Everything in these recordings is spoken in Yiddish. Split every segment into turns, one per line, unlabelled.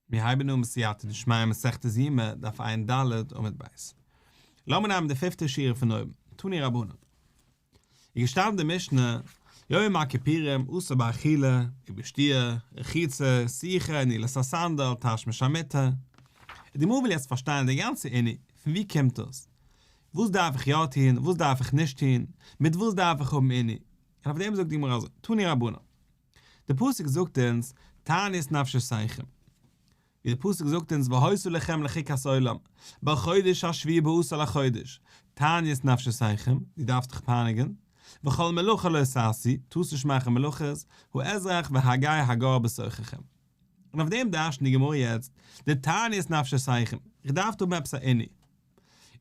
מיר הייבן אן בסייעתא דשמיא מסכת יומא דף ע"ד עמוד ב'. לאמיר נעמען די פיפטע שורה פון אויבן, תני רבנן. איז געשטאנען אין די משנה, יום הכפירים אסור באכילה, ובשתיה, רחיצה, שיחה, נעילת הסנדל, תשמיש המיטה. און די גמרא וויל יעצט פארשטיין די גאנצע ענין, פון וואו קומט דאס? וואס דארף איך יא טון, וואס דארף איך נישט טון, מיט וואס דארף איך האבן ענין? און אויף דעם זאגט די גמרא אזוי, תני רבנן. די פסוק זאגט אונז תענית נפשותיכם, ווי די פסוק זאגט אונז והעשו לכם לחוקת עולם, בחודש השביעי בעשור לחודש, תענית נפשותיכם, דו דארפסט דיך פייניגען, וכל מלאכה לא תעשי, טוסט נישט מאכן מלאכות, האזרח והגי הגר בשוחכם. און אויף דעם דרש'נט די גמרא יעצט די תענית נפשותיכם, איך דארף דא האבן עפעס א עני.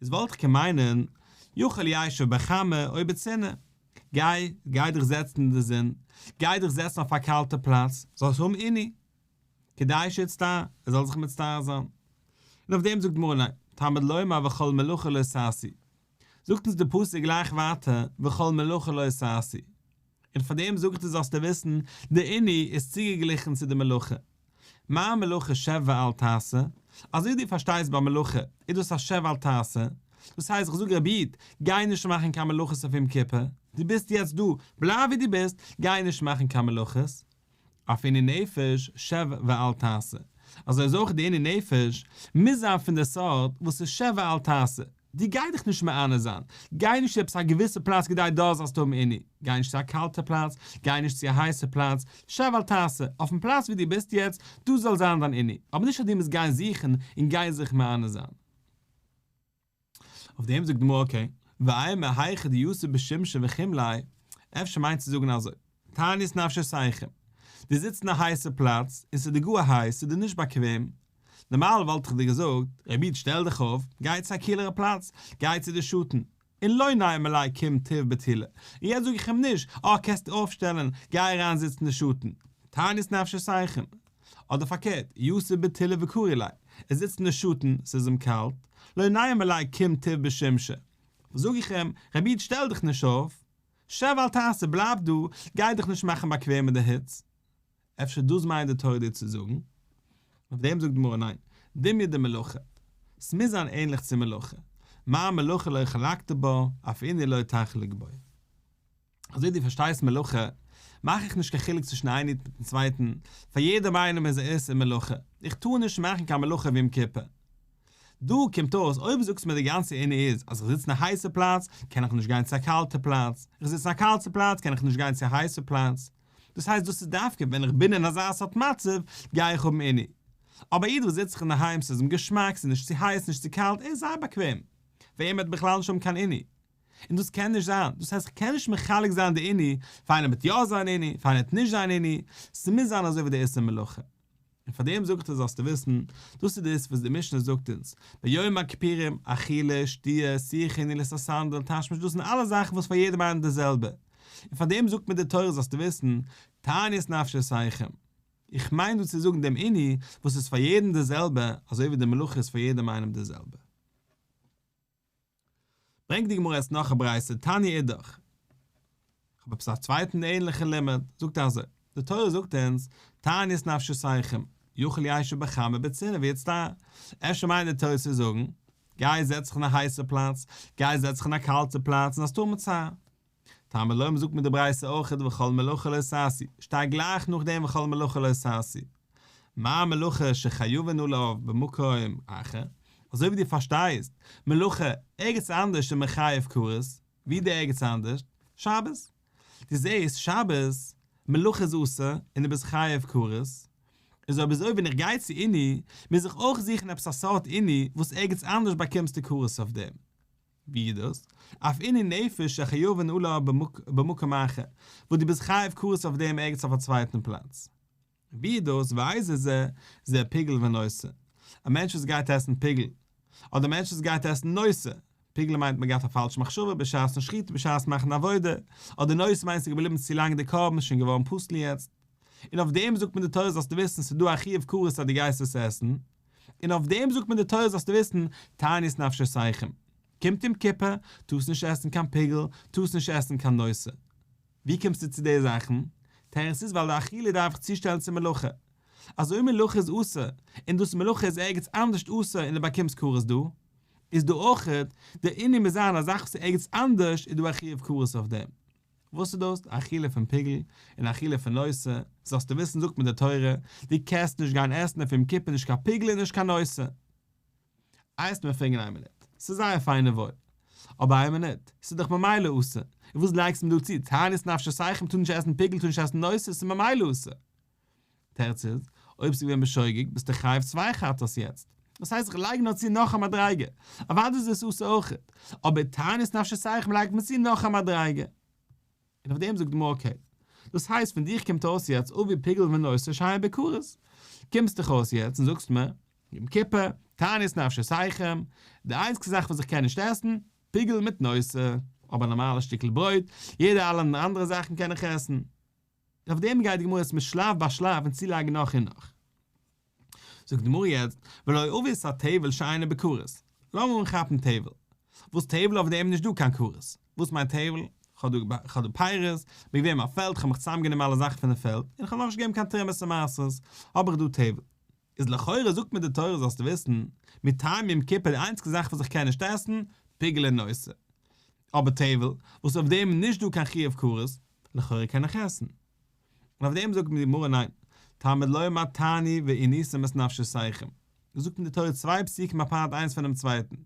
איז וואלט איך קען מיינען יאכל ישב בחמה או בצנעה. גיי, גיי דיך זעצן אין די זון, גיי דיך זעצן אויף א קאלטע פלאץ, זאלסט האבן עני, כדי שיצטער, ער זאל זיך מצטער זיין. און אויף דעם זאגט מרן לייב, תמיד לומר וכל מלאכה לא ששי. זאגט אונז די פסוק גלייך ווייטער, וכל מלאכה לא ששי. און פאר דעם זאגט ער זאלסטו וויסן, די עני איז צוגעגליכן צו די מלאכה. מה מלאכה שב ואל תעשה, אזוי דו פארשטייסט ביי מלאכה איז דאס א שב ואל תעשה, דאס הייסט איך זאג רבי איד, גיי נישט מאכן קיין מלאכות אויף יום כיפור, דו ביסט יעצט דא, בלייב ווי דו ביסט, גיי נישט מאכן קיין מלאכות, אויף עני נפש שב ואל תעשה, אזוי איז אויך די עני נפש מוז זיין פון די סארט וואס איז שב ואל תעשה, דו גיי דיך נישט מענה זיין, גיי נישט צו עפעס א געוויסע פלאץ כדי דארט זאלסטו האבן עני, גיי נישט צו א קאלטע פלאץ, גיי נישט צו א הייסע פלאץ, שב ואל תעשה, אויפן פלאץ ווי דו ביסט יעצט, דאס זאל זיין דיין עני, אבער נישט אז דו מוזט גיין זוכן און גיין זיך מענה זיין. אויף דעם זאגט די גמרא אקעי, ואיי מהיכא דיוסי בשמשה וכימלאי, אפשר מיינט צו זאגן אזוי. תענית נפשיתיכם, דו זיצט אין א הייסע פלאץ און ס'איז דיר גאר הייס, ס'איז דיר נישט באקוועם, נארמאל וואלט איך דיר געזאגט, רבי איד שטעל דיך אויף, גיי צו א קילערע פלאץ, גיי צו די שטן, און לא נעים עלי קום טיב בתילה, און יעצט זאג איך אים נישט, אה קענסט דיר אויפשטעלען, גיי אריין זיצן אין די שטן, תענית נפשיתיכם, אדער פארקערט, יושב בתילה וקרי ליה, ער זיצט אין די שטן, ס'איז אים קאלט, לא נעים עלי קום טיב בשמשה, זאג איך אים, רבי איד שטעל דיך נישט אויף, שב ואל תעשה, בלייב דא, גיי דיך נישט מאכן באקוועם מיט די היץ. אפשר דאס מיינט די תורה דיר צו זאגן? אויף דעם זאגט די גמרא ניין, דמיה דמלאכה, ס'מוז זיין ענליך צו מלאכה, מה מלאכה לא חלקת בה, אף איני לא תחלוק בה. אזוי דו פארשטייסט מלאכה, מאך איך נישט קיין חילוק צווישן איין איד מיטן צווייטן, פאר יעדעם איינעם איז א איסור מלאכה, איך טאר נישט מאכן קיין מלאכה ווי יום כיפור. דא קומט אויס אויב זאגסט מיר די גאנצע ענין איז אז איך זיץ אין א הייסע פלאץ קען איך נישט גיין צו א קאלטע פלאץ, איך זיץ אין א קאלטע פלאץ קען איך נישט גיין צו א הייסע פלאץ, דאס הייסט דאס איז דווקא ווען איך בין אין אזא סארט מצב גיי איך האבן ענין. אבער א איד וואס זיצט זיך אינדערהיים ס'איז אים געשמאק ס'איז נישט צו הייס נישט צו קאלט ער איז זייער באקוועם ווען עמער עט בכלל נישט האבן קיין ענין און דאס קען נישט זיין דאס הייסט כ'קען נישט מחלק זיין די ענין פאר איינער וועט יא זיין ענין פאר איינער עט נישט זיין ענין ס'מוז זיין אזוי ווי די עושה מלאכה. און פאר דעם זאג איך דיר זאלסטו וויסן, דאס איז דאס וואס די משנה זאגט אונז, ביום הכפירים, אכילה, שתיה, שיחה, נילוס א סנדל, תשמיש, דאס זענען אלעס זאכן וואס פאר יעדעם איינעם די זעלבע, און פאר דעם זאגט מיר די תורה זאלסטו וויסן, תענית נפשותיכם, איך מיין דא צו זאגן דעם עני וואס איז פאר יעדעם די זעלבע, אזוי ווי די מלאכה איז פאר יעדעם איינעם די זעלבע. ברענגט די גמרא עס נאך א ברייתא תני אידך, כ'האב עפעס א צווייטן ענליכן לימוד, זאגט ער אזוי, די תורה זאגט אונז, תענית נפשותיכם, יאכל ישב בחמה בצינא ויצטנע, אפשר מיינט די תוס' צו זאגן, גיי זעץ זיך אין א הייסע פלאץ, גיי זעץ זיך אין א קאלטע פלאץ און האסט ארעם און צער. טעם אלוהים זאגט מען די ברייתא אויך איז וכל מלאכה לא תעשי, שטייט גלייך נאכדעם וכל מלאכה לא תעשי. מה המלאכה שחיובנו לה במקום אחר? אזוי ווי דו פארשטייסט מלאכה ערגעץ אנדערש איז מען חייב כרת, ווי די ערגעץ אנדערש? שבת. דו זעסט שבת מלאכה איז אסור און דו ביסט חייב כרת, איז אויב אזוי ווען איך גיי צו עיני מוז איך אויך זוכן עפעס א סארט עיני וואס ערגעץ אנדערש באקומסטו כרת אויף דעם. ווי איז דאס? אויף עניני נפש שחיובן אולי במקום אחר, וואס דו ביסט חייב כרת אויף דעם ערגעץ אויף א צווייטן פלאץ. ווי איז דאס? ואיזה זה זה פיגל ונושא? א מענטש וואס גייט עסן פיגל, אדער א מענטש וואס גייט עסן נושא? פיגל מיינט מען גייט א פאלשע מחשבה בשעת'ן שחיטה בשעת מאכן א עבודה, אדער נושא מיינט עס איז געבליבן צו לאנג די קרבן איז שוין געווארן פסול יעצט. און אויף דעם זאגט מיר די תורה זאלסטו וויסן ס'איז דא א חיוב כרת אז דו גייסט עס עסן. און אויף דעם זאגט מיר די תורה זאלסטו וויסן, תענית נפשותיכם, קומט יום כיפור, טוסט נישט עסן קיין פיגל, טוסט נישט עסן קיין נושא. ווי קומסטו צו די זאכן? תירוץ איז ווייל די אכילה דארף איך צושטעלן צום מלאכה. אזוי מלאכה איז אסור, און דאס מלאכה איז ערגעץ אנדערשט אסור און דו באקומסט כרת דא, איז דא אויך, דער ענין מוז זיין אז זאך וואס איז ערגעץ אנדערשט איז דא א חיוב כרת אויף דעם. וואס איז דאס? אכילה פון פיגל און אכילה פון נושא, זאלסטו וויסן זאגט מיר די תורה, דו קענסט נישט גיין עסן אויף יום כיפור נישט קיין פיגל און נישט קיין נושא. הייסט מיר פרעגן איין מינוט, ס'איז זייער פיין און וואויל, אבער איין מינוט, ס'איז דאך ממילא אסור, און וואס לייגסטו מיר דא צו, תענית נפשותיכם טוט נישט עסן פיגל טוט נישט עסן נושא, ס'איז ממילא אסור. תירץ איז, אויב ס'איז געווען בשוגג, ביסטו חייב צוויי חטאת יעצט. דאס הייסט איך לייג נאר צו נאך א מדריגה. אוודאי איז דאס אסור אויך. אבער תענית נפשי סייך מ'לייגט מען צו נאך א מדריגה. און אויף דעם זאגט די גמרא אקעי. דאס הייסט פון דיך קומט אויס יעצט אבי פיגול ונושא שהיה בכרת. קומסט דיך אויס יעצט און זאגסט מיר, יום כיפור, תענית נפשי סייכם, די איינציגסטע זאך וואס איך קען נישט עסן, פיגול מיט נושא. אבער נארמאלע שטיקל ברויט, יעדע אלע אנדערע זאכן קען איך עסן. אויף דעם גייט די גמרא יעצט מיט שלב ביי שלב און צולייגן נאך און נאך. זאגט די גמרא יעצט, ולא אביס א תבל שאינה בכרת. לאמיר אנכאפן תבל. וואס תבל? אויף דעם נישט דא קיין כרת. וואס מיינט תבל? כ'האב דא פיירות, באקוועם א פעלד, כ'האב מיך צוזאמגענומען אלע זאכן פונעם פעלד, און כ'האב נאכנישט געגעבן קיין תרומות און מעשרות, האב איך דא תבל. איז לכאורה זאגט מיר די תורה זאלסטו וויסן, מיט טעם יום כיפור די איינציגסטע זאך וואס איך קען נישט עסן, פיגל און נושא. אבער טייוול, וואס אויף דעם איז נישט דא קיין חיוב כרת, לכאורה קען איך עסן. און אויף דעם זאגט מיר די גמרא ניין, תעמוד ליה מה תעני והיא ניסם את נפשיסייכם. זאגט מיר די תורה צוויי פסוקים אפארט איינס פונעם צווייטן.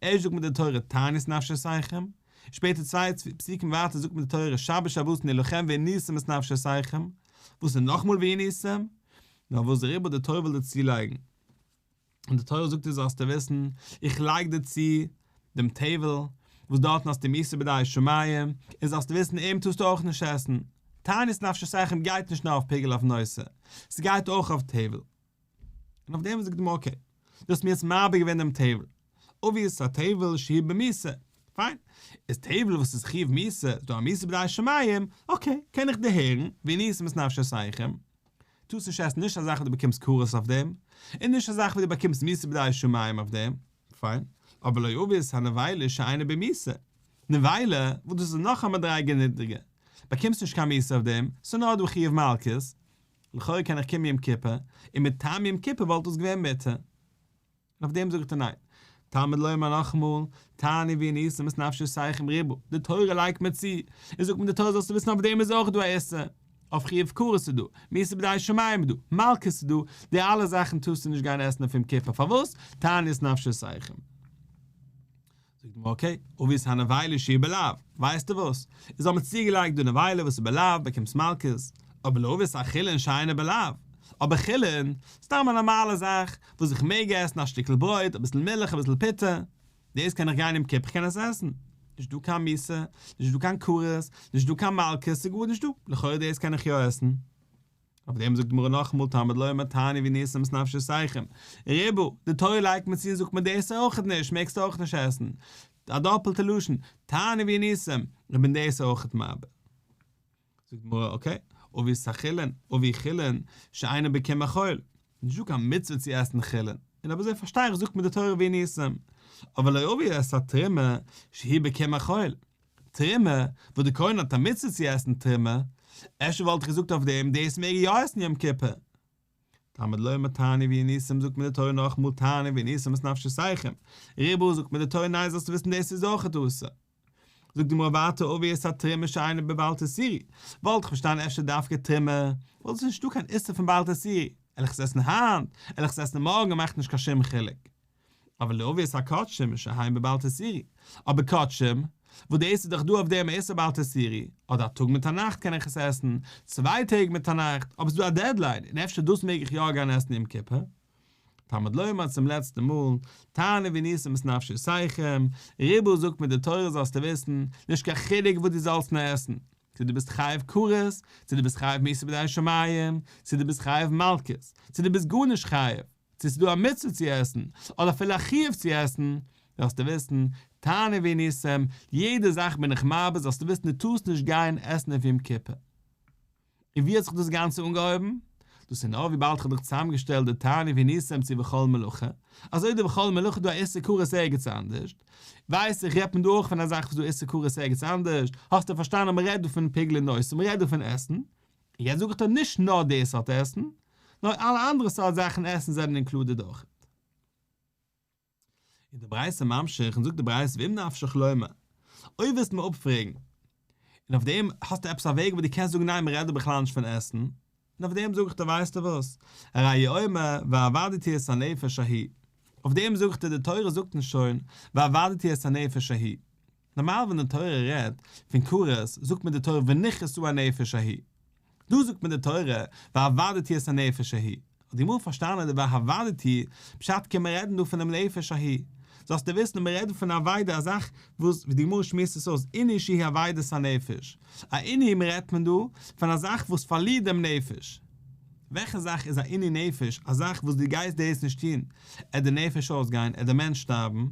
ערשט זאגט מיר די תורה תעני את נפשיסייכם, שפעטער צוויי פסוקים ווייטער זאגט מיר די תורה שבת שבתון יהיה לכם והיא ניסם את נפשיסייכם, וואס איז נאכמאל והיא ניסם? נאר וואס דער עיבור דער תורה וויל דיר צולייגן, און די תורה זאגט דיר זאלסטו וויסן, איך לייג דיר צו דעם טעוועל, וואס דארטן האסטו מאיסור בידי שמים, און זאלסטו וויסן אים טארסטו אויך נישט עסן, תענית נפשי סכין גייט נישט נאר אויף פיגעלע אויף נושא, ס'גייט אויך אויף טעוועל. און אויף דעם זאגט די גמרא אקעי, דו האסט מיר יעצט מעביר געווען דעם טעוועל, אבוויעס ס'איז א טעוועל שהי' במיסור, פיין, איז טעוועל וואס איז חיוב מיסור, איז דא א מאיסור בידי שמים, אקעי, קען איך דיר הערן, ווי ניסים את נפשי סכין, טוס נישט עסן נישט אזאך ווי דו באקומסט קרית אויף דעם, און נישט אזאך ווי דו באקומסט מיסה בידי שמים אויף דעם, פיין, אבער לא יביס ה נבילה שאינה במיסה, נבילה וואס דאס איז נאך א מדריגה נידריגער, באקומסט נישט קיין מיסה אויף דעם, ס'איז נאר דא חיוב מלקות, לכאורה קען איך קומען יום כיפור, און מטעם יום כיפור וואלט דאס געווען מותר. און אויף דעם זאגט ער ניין. תלמוד לומר נאכאמאל, תעני ווי אין איסור מס נפשי סייח עם ריבו, די תורה לייגט מיר צו, און זאגט מיר די תורה זאלסטו וויסן אויף דעם איז אויך דא א איסור, אויף חיוב כרת איז דא, מיסה בידי שמים איז דא, מלקות איז דא, די אלע זאכן טארסטו נישט גיין עסן אויף יום כיפור, פארוואס? תעני את נפשי סייח עם. זאגט מען אקעי, אווי איז הנבילה שהיא בלהב, ווייסטו וואס, איז האבן צוגעלייגט דו נבילה וואס איז בלהב באקומסט מלקות, אבער לא אווי איז א חולין שאינה בלהב, אבער חולין, סתם א נארמאלע זאך, וואס איך מעג עסן א שטיקל ברויט, אביסל מילך, אביסל פיטה, דאס קען איך גיין יום כיפור קען איך עס עסן, נישט דא קיין מיתה, נישט דא קיין כרת, נישט דא קיין מלקות, ס'איז גארנישט דא, לכאורה דאס קען איך יא עסן. אויף דעם זאגט די גמרא נאכאמאל תמיד לא אמר תעני ווי נעשה מס נפשי סייחים ריבו, די תורה לייגט מיר צו און זאגט מיר דאס אויכעט נישט, מעגסט אויך נישט עסן, א דאפעלטע לשון, תעני ווי נעשה, איך בין דאס אויכעט מבער. זאגט די גמרא אקעי, אבי סחילין, אבי חילין, שאינו בקי מחול, נישטא קיין מצוה צו עסן חילין, און אויב אזוי פארשטיי איך זאגט מיר די תורה ווי נעשה, אבל לא אבי עס א תרומה שהיא בקי מחול, טרימע, וואס די כהן האט א מצוה צו עסן טרימע, אפשר וואלט איך געזאגט אויף דעם, דאס מעג ער יא עסן יום כיפור. תלמוד לומר תעני ויהי ניסים זאגט מיר די תורה נאכמאל תעני ויהי ניסים את נפשותיכם, ריבו זאגט מיר די תורה ניין זאלסטו וויסן דאס איז אויכעט אסור. זאגט די גמרא ווייטער אווי עס א טרימע שאינה בבעל תסירי, וואלט איך פארשטאנען אפשר דווקא טרימע, וואלט עס נישטא קיין איסור פון בעל תסירי, על איך עס עסן היינט, על איך עס עסן מארגן מאכט נישט קיין שום חילוק. אבער לעוביית הקדשים איז שוין היים בבעל תסעירי. אבער קדשים, וואס דאס איז דאך דא אויף דעם איסור בעל תסעירי, אדער א טאג מיט א נאכט קען איך עס עסן, צוויי טעג מיט א נאכט, אבער ס'איז דא א דעדליין, און אפשר דאס מעג איך יא גיין עסן יום כיפור. תלמוד לומר צום לעצטן מאל, תענה וניסים את נפשותיכם, רבו זאגט מיר די תורה זאלסטו וויסן, נישט קיין חילוק וואס דו זאלסט נאר עסן, צו דו ביסט חייב כרת, צו דו ביסט חייב מסור בידי השמים, צו דו ביסט חייב מלקות, צו דו ביסט גארנישט חייב, צו ס'איז דא א מצוה צו עסן, אדער אפילו א חיוב צו עסן, זאלסטו וויסן, תענה וניסים, יעדע זאך בין איך מרבה, זאלסטו וויסן דו טארסט נישט גיין עסן אויף יום כיפור. און ווי האט זיך דאס גאנצע אנגעהויבן? דאס איז נאר וויבאלד כ'האב דיך צוזאמגעשטעלט די תענה וניסים צו וכל מלאכה, אזוי דער וכל מלאכה איז דא א איסור כרת ערגעץ אנדערשט, ווייס איך רעדט מען דא אויך פון א זאך וואס דא איסור כרת ערגעץ אנדערש, האסטו פארשטאנען אז מען רעדט דא פון פיגלען אין אויסער, מען רעדט דא פון עסן, יעצט זאג איך דיר נישט נאר די סארט עסן, נאר אלע אנדערע סארט זאכן עסן זענען אינקלודעד אויך. איז די ברייתא ממשיך און זאגט די ברייתא ואם נפשך לומר, אויב וועסטו מיר אפפרעגן, און אויף דעם האסטו עפעס א וועג וואס דו קענסט זאגן ניין מ'רעדט דא בכלל נישט פון עסן, און אויף דעם זאג איך דיר ווייסטו וואס, הרי יאמר ועבדתי את הנפש ההיא, אויף דעם זאג איך דיר די תורה זאגט אונז שוין ועבדתי את הנפש ההיא, נארמאל ווען די תורה רעדט פון כרת זאגט מיר די תורה ונכרתו הנפש ההיא, דא זאגט מען די תורה ועבדתי את הנפש ההיא, האט די גמרא פארשטאנען די ועבדתי פשט קען מען רעדן דא פונעם נפש ההיא, זאלסטו וויסן מען רעדט פון אבידה א זאך וואס ווי די גמרא שמועסט עס אויס עני שהיא אבידת הנפש, א עני מ רעדט מען דא פון א זאך וואס פארלירט דעם נפש, וועלכע זאך איז א עני נפש א זאך וואס דו גייסט דאס נישט טון עט די נפש אויסגיין עט די מענטש שטארבן,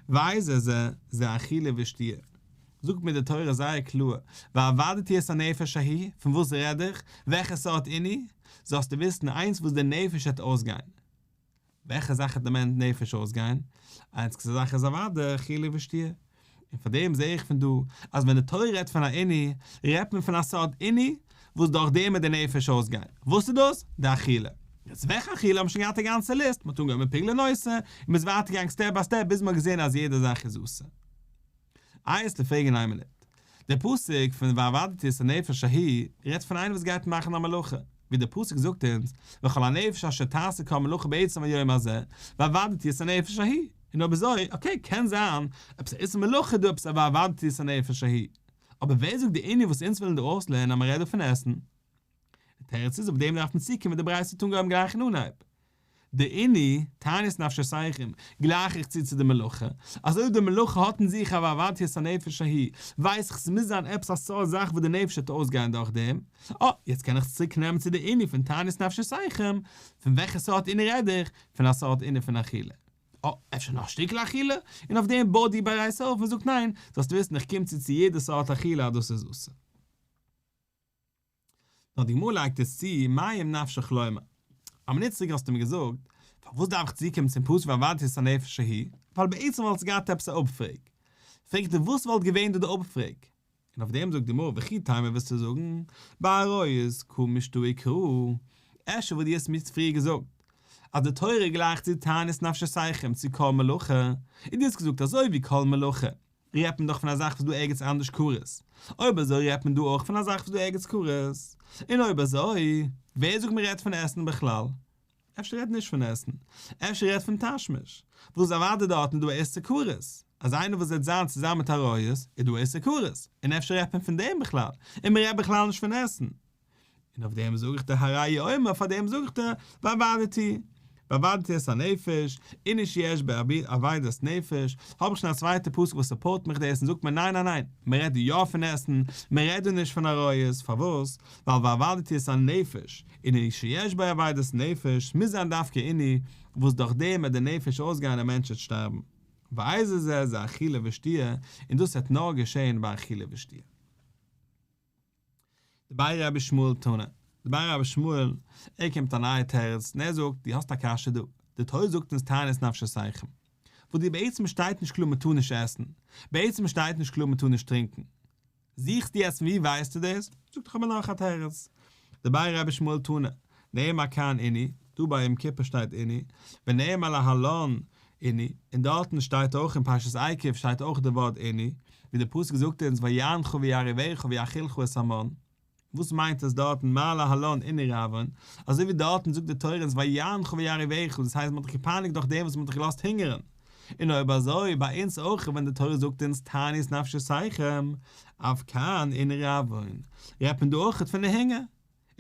ואיזה זה זה אכילה ושתיה. זאגט מיר די תורה זייער קלאר, ועבדתי את הנפש ההיא, פון וואס רעד איך? וועלכע סארט עני? זאלסטו וויסן איינס וואס די נפש העט אויסגיין. וועלכע זאך העט די נפש אויסגיין? איין סקסע זאך איז אוודאי אכילה ושתיה. און פאר דעם זעה איך פון דא, אז ווען די תורה רעדט פון א עני, רעדט מען פון א סארט עני וואס דורך דעם העט די נפש אויסגיין. וואס איז דאס? די אכילה. יעצט וועלכע אכילה האבן שוין געהאט א גאנצע ליסט, מ'האט אנגעהויבן מיט פיגלען אויסער, און מ'איז ווייטער געגאנגען סטעפ ביי סטעפ ביז מ'האט געזעהן אז יעדע זאך איז אסור. אייערס ל פרעגן איין מינוט. דער פסוק פון ועבדתי את הנפש ההיא רעדט פון איינער וואס גייט מאכן א מלאכה, ווי דער פסוק זאגט אונז וכל הנפש אשר תעשה כל מלאכה בעצם היום הזה ועבדתי את הנפש ההיא, און אויב אזוי אקעי קען זיין עפעס א איסור מלאכה איז דא עפעס א ועבדתי את הנפש ההיא, אבער ווער זאגט די ענין וואס אונז ווילן דא אויסלערנען אז מען רעדט דא פון עסן? די תירוץ איז אויף דעם דארף מען צוקומען די ברייתא טאן גוים גלייך אין אנהייב, דעיני, תענית נפשותיכם, גלייך איך צו צו די מלאכה, אז אויב די מלאכה האט אין זיך אב עבדתיות הנפש ההיא, ווייס איך ס'מוז זיין עפעס א סארט זאך וואס די נפש וועט אויסגיין דורך דעם, אה, יעצט קען איך עס צוריק נעמען צו די ענין פון תענית נפשותיכם, פון וועלכע סארט ענין רעד איך, פון א סארט ענין פון אכילה. אה, אפשר נאר שטיקל אכילה? און אויף דעם בויט די בייס אויף און זאגט ניין, זאלסט וויסן איך קום צו צו יעדע סארט אכילה אז דאס איז אסור. נאר די גמרא לייגט עס צו מים נפשך לומר, אבער ניט צוריק האסטו מיר געזאגט, פארוואס דארף איך צוקומען צום פסוק ואבדתי את הנפש ההיא, ווייל בעצם וואלטסט געהאט עפעס א אפפרעג, פרעגט ער וואס וואלט געווען דא די אפפרעג? און אויף דעם זאגט די גמרא וכי תימא וועסטו זאגן, ביי עריות קא משתא עיקרא, אפשר וואלט דיר עס מיר פריער געזאגט, אז די תורה גלייכט צו תענית נפש ששייכים צו כל מלאכה, און דו האסט געזאגט אזוי ווי כל מלאכה, רעדט מען דאך פון א זאך וואס דא ערגעץ אנדערש קרית. אויב אזוי רעדט מען דא אויך פון א זאך וואס דא ערגעץ קרית. און אויב אזוי, ווער זאגט מען רעדט פון עסן בכלל? אפשר רעדט נישט פון עסן. אפשר רעדט פון תשמיש. וואס אוודאי דארטן איז דא א איסור כרת. אז איינער וואס וועט זיין צוזאמען מיט עריות, איז דא א איסור כרת. און אפשר רעדט מען פון דעם בכלל. און מען רעדט בכלל נישט פון עסן. און אויף דעם זאגט דער הר ר יאמר פאר דעם זאגט ער ועבדתי ועבדתי את הנפש אין איש יש ברבים עבידת נפש, האב איך שוין א צווייטע פסוק וואס סופארט מיך דאס און זאגט מיר ניין ניין ניין מען רעדט דא יא פון עסן מען רעדט דא נישט פון עריות פארוואס ווייל ועבדתי את הנפש אין איש שיש בו עבידת נפש מוז זיין דווקא אין אי וואס דורך דעם וועט די נפש אויסגיין און מענטש וועט שטארבן ואיזה זה זה אכילה ושתיה און דאס וועט נאר געשען ביי אכילה ושתיה. די באר רבי שמואל טענה, די באר רבי שמואל, ער קומט מיט א נייע תירוץ און ער זאגט, דו האסט א קשיא דא, די תורה זאגט אונז תענית נפשותיכם, וואס דיר בעצם שטייט נישט קלאר מען טאר נישט עסן, בעצם שטייט נישט קלאר מען טאר נישט טרינקען, זוכסטו יעצט פון ווי ווייסטו דאס? זאגט איך האב מיר נאך א תירוץ, די ביי רבי שמואל טונא, נעמה כאן איני, דא ביי יום כיפור שטייט איני, ונעמה להלן איני, און דארטן שטייט אויך אין פרשת עקב שטייט אויך די ווארט איני, ווי די פסוק זאגט אונז ויענך ויעריבך ויאכילך את המן, וואס מיינט עס דארטן מה להלן איני רעווען, אזוי ווי דארטן זאגט די תורה אונז ויענך ויעריבך, דאס הייסט מען האט דיך געפייניגט דורך דעם וואס מען האט דיך געלאזט הונגערן. און אויב אזוי ביי אונז אויך ווען די תורה זאגט אונז תענית נפשי שיחם, אויף קאן און רעווען, רעדט מען דא אויך פון די הונגער?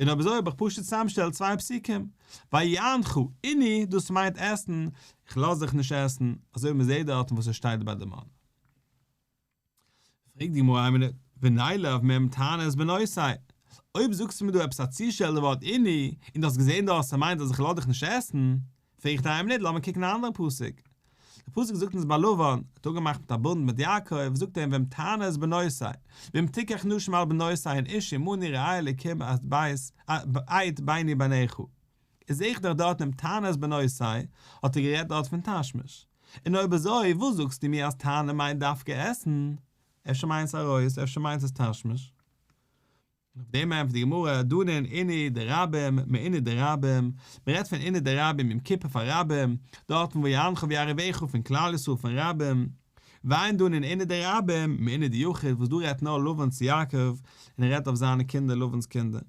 און אויב אזוי האב איך פשוט צוזאמשטעלט צוויי פסוקים, ויאנחו עני דאס מיינט עסן, איך לאז דיך נישט עסן, אזוי ווי מען זעט דארטן וואס עס שטייט ביי די מן. פרעגט די גמרא אמינא ונעלב מהם טענות בנושאי, אויב זאגסטו מיר דא עפעס א צושטעלטע ווארט איני, און דו האסט געזען דארט אז ס'מיינט אז איך לאז דיך נישט עסן, פרעגט א אמינא לאמיר קוקן א אנדערע פסוק, די פסוק זאגט אונז ביי לבן, האט אפגעמאכט מיט א בונד מיט יעקב, זאגט ער אים והם טענות בנושאי, והם תיקח נשים על בנושאי הן איש עמוני רעי אלקים את בית את ביני ביניך. איך זוך דאך דארט דעם תענית בנוי סיי האט ער גערעדט דארט פון תשמיש, און אויב אזוי וואס זאגסטו מיר אז תענית מיינט דווקא עסן? אפשר מיינט עס ארויס אפשר מיינט עס תשמיש. און אויף דעם ענטפערט די גמרא, דנן עיני דרבים מעיני דרבים, מען רעדט פון עיני דרבים יום כיפור פאר רבים, דארט פון ויענך ויעריבך פון כלל ישראל פון רבים, ואין דנן עיני דרבים מעיני דיחיד וואס דא רעדט נאר לבן צו יעקב און ער רעדט אויף זיינע קינדער לבן'ס קינדער.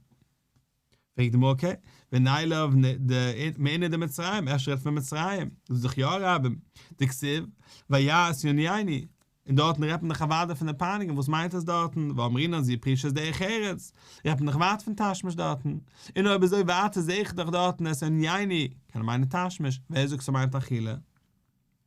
פרעגט די מכה, ונעלב נ ד מעיני דמצרים, אפשר רעדט פון מצרים, דאס איז דאך יא אראבים, דכסיב, ויעש יוני עיני, און דארטן רעדט מען דאך אוודאי פון די פייניגונג, וואס מיינט עס דארטן, ואמרינן זי פרישת דרך ארץ, רעדט מען דאך ווייט פון תשמיש דארטן, און אויב אזוי ווייטער זעה איך דאך דארטן אז עיני, קען מיינען תשמיש, ווער זאגט ס'מיינט אכילה?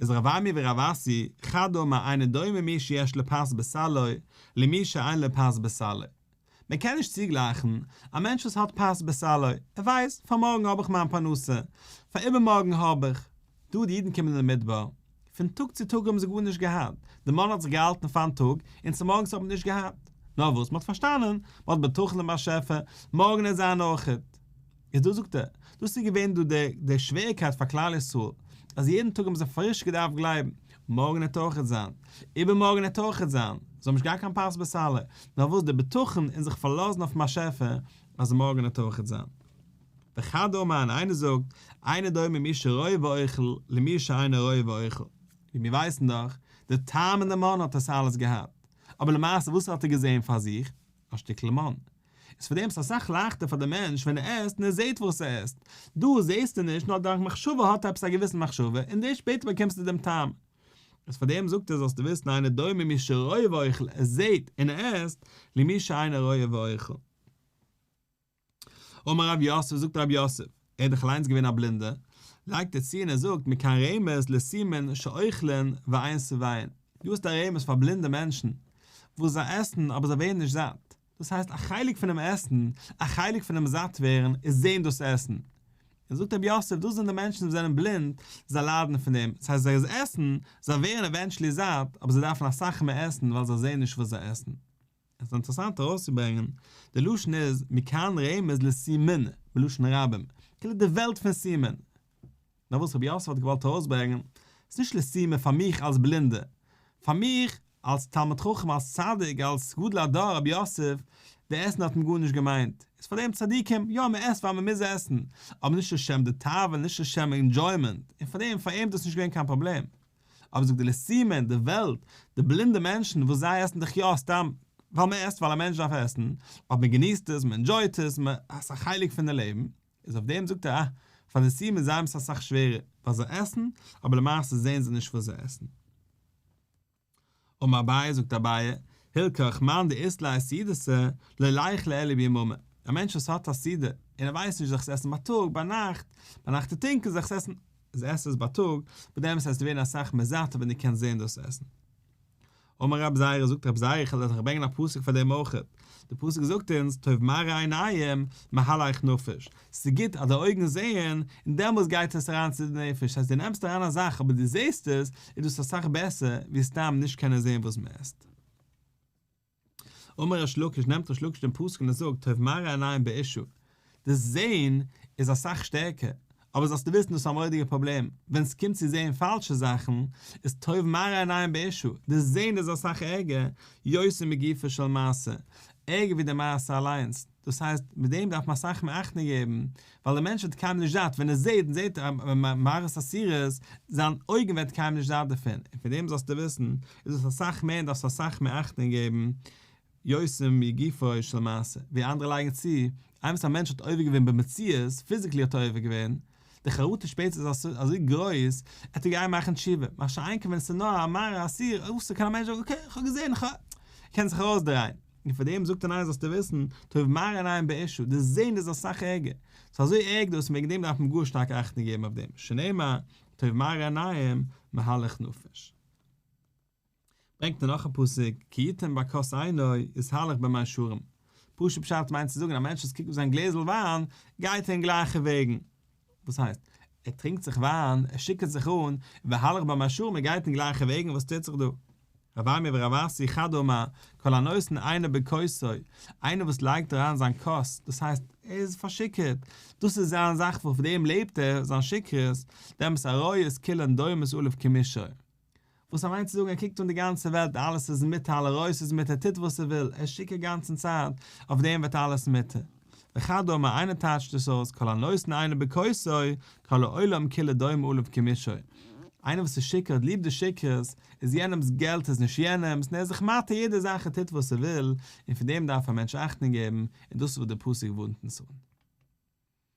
איז רב אמי ורב אסי חד הוא מה אינו דומה מי שיש לו פת בסלו למי שאין לו פת בסלו, מען קען נישט צוגלייכן א מענטש וואס האט פת בסלו, ער ווייסט פאר מארגן האב איך מיין פרנסה, פאר איבערמארגן האב איך, דא די אידן קומען אין די מדבר, פון טאג צו טאג האבן זיי גארנישט געהאט, די מאן האט זיך געהאלטן פארן טאג, און צומארגנס האט מען נישט געהאט, נאר וואס מען האט פארשטאנען, מען האט בטחון אין באשעפער, מארגן עט זיין אויכעט. איז דאס זאגט ער, דאס איז געווען דא דער דער שוועריקייט פאר כלל ישראל, אז יעדן טאג האבן זיי פריש געדארפט גלייבן, מארגן העט אויכעט זיין, איבערמארגן העט אויכעט זיין, זיי האבן נישט געהאט קיין פת בסלע, נאר וואס דער בטחון און זיך פארלאזן אויפן באשעפער אז מארגן העט אויכעט זיין. וכד' אמר און איינער זאגט, אינו דומה מי שרואה ואוכל, למי שאינו רואה ואוכל. ווי מיר ווייסן דאך, דער טעם און דער מאן האט עס אלעס געהאט, אבער למעשה וואס האט ער געזען פאר זיך? א שטיקל מאן. איז פארדעם ס'איז אסאך לייכטער פאר די מענטש ווען ער עסט און ער זעט וואס ער עסט. דא זעסטו נישט נאר דורך מחשבה האט עפעס א געוויסן מחשבה און דערשט שפעטער באקומסטו דעם טעם. איז פארדעם זאגט ער זאלסטו וויסן אינו דומה מי שרואה ואוכל ער זעט און ער עסט למי שאינו רואה ואוכל. אמר רב יוסף זאגט רב יוסף, ער איז דאך אליינס געווען א בלינדער, לייגט ער צו און ער זאגט מכאן רמז לסימן שאוכלין ועיין שבעין, דא האסטו א רמז פאר בלינדע מענטשן וואס זיי עסן אבער זיי ווערן נישט זאט, דאס הייסט א חלק פונעם עסן, א חלק פונעם זאט ווערן איז זען דאס עסן. און זאגט רבי יוסף, דאס זענען די מענטשן וואס זענען בלינד, זיי ליידן פון דעם, ס'הייסט זיי עסן, זיי ווערן עווענטשעלי זאט, אבער זיי דארפן אסאך מער עסן ווייל זיי זען נישט וואס זיי עסן. עס איז אינטערעסאנט ארויסצוברענגען, די לשון איז מכאן רמז לסימנא, בלשון רבים, כאילו די וועלט פון סימן. נאר וואס רבי יוסף האט געוואלט ארויסברענגען, ס'איז נישט לסימא פאר מיך אלס בלינדע, פאר מיך אלס תלמיד חכם, אלס צדיק, אלס גדול הדור רבי יוסף, די עסן האט מען גארנישט געמיינט, איז פאר דעם צדיקים, יא מען עסט ווייל מען מוז עסן, אבער נישט לשם די תאווה, נישט לשם אינדזשוימענט, און פאר דעם פאר אים איז דאס נישט געווען קיין פראבלעם. אבער זאגט די לסימא אין די וועלט, די בלינדע מענטשן וואס זיי עסן דאך יא סתם, ווייל מען עסט ווייל א מענטש דארף עסן, אויב מען געניסט עס, מען אינדזשויט עס, מען, עס איז א חלק פון די לעבן, איז אויף דעם זאגט ער אה, פאר די סיעמעס זיי האבן עס אסאך שווערער וואס זיי עסן, אבער למעשה זעהן זיי נישט וואס זיי עסן. אמר אביי, זאגט אביי, הילקח מאן דאיסט ליה סידסה, לא לייך ליה אלא ביממה, א מענטש וואס האט א סידה, און ער ווייסט נישט זיך עס עסן בייטאג, ביינאכט, ביינאכט איז טונקל זיך עס עסן, איז עס עס בייטאג, מיט דעם וועסטו ווערן אסאך מער זאט ווען דו קענסט זעהן דאס עסן. אמר רב זייערע, זאגט רב זייערע, איך העל דאך ברענגען א פסוק פאר דעם אויך, די פסוק זאגט אונז, טוב מראה עיניים, מהלך נפש, ס'איז גוט אז די אויגן זעען, און דעמאלס גייט עס אריין צו די נפש, ס'הייסט דו נעמסט אריין א זאך אבער דו זעסט עס, איז דאס אסאך בעסער ווי סתם נישט קענען זען וואס מ'עסט. אמר ריש לקיש נעמט ריש לקיש דעם פסוק און ער זאגט טוב מראה עיניים בעישו דאס זעהן איז אסאך שטערקער אבער זאלסטו וויסן דאס איז א מורא'דיגע פראבלעם ווען סקומט צו זעהן פאלשע זאכן איז טוב מראה עיניים בעישו דאס זעהן איז אסאך ערגער יותר מגופו של מעשה ערגער ווי די מעשה אליינס דאס הייסט מיט דעם דארף מען אסאך מער אכטונג געבן, ווייל דער מענטש וועט קיינמאל נישט זעט, ווען ער זעט, זעט ער מערכות אסירות, זיין אויגן וועט קיינמאל נישט זעט דערפון, און פון דעם זאלסטו וויסן, איז דאס אסאך מער און דארפסט אסאך מער אכטונג געבן, יוצאים מגופו של מעשה, ווי אנדערע לייגן צו, איינמאל א מענטש האט עובר געווען במציאות, פיזיקלי האט ער עובר געווען, די חרטה שפעטער איז אזוי גרויס, ער טאר גיין מאכן תשובה, מה שאין כן ווען עס איז נאר א מרה אסיר, אויסער קען א מענטש זאגן אקעי, כ'האב געזען, איך האב, ער קען זיך ארויסדרייען. און פאר דעם זאגט ער ניין זאלסטו וויסן, טוב מראה עיניים בעישו, די זען איז אסאך ערגער, ס'איז אזוי ערג דאס וועגן דעם דארף מען גאר שטארק אכטונג געבן אויף דעם, שנאמר, טוב מראה עיניים, מהלך נפש. ברענגט ער נאך א פסוק, כי יתן ברכות עיני, יזהלך במי שערים. פשוט פשט מיינט צו זאגן, א מענטש וואס קוקט אויף זיין גלעזל וויין, גייט אין גלייכע וועגן. וואס הייסט? ער טרינקט זיך וויין, ער שיקערט זיך אן, ויהלך במי שערים, ער גייט אין גלייכע וועגן, וואס טוט זיך דא? רבי אריה ורבי אסי חד אמר, כל הנותן עינו בכוסו, איינער וואס לייגט אריין זיין כוס, דאס הייסט, ער איז פארשיקערט, דאס איז זיין זאך וואס אויף דעם לעבט ער, זיין שכרות, דעם וואס א ראיה איז כולן דומות עליו כמישור. וואס א מיינט צו זאגן ער קוקט אן די גאנצע וועלט אלעס איז מיתה על הראש איז מיתה ער טוט וואס ער וויל ער שיכור גאנצן צייט אויף דעם ווערט אלעס מיתה וכדו' מה איינער טייטשט דאס אויס כל הנותן אינו בכוסו כל העולם כולו דומה אליו כמישו איינער וואס איז שיכור האט ליב די שכרות איז יענעמס געלט איז נישט יענעמס און ער איז זיך מטעה יעדע זאך ער טוט וואס ער וויל און פון דעם דארף א מענטש אכטונג געבן און דאס איז וואס די פסוק ווארנט אונז אן.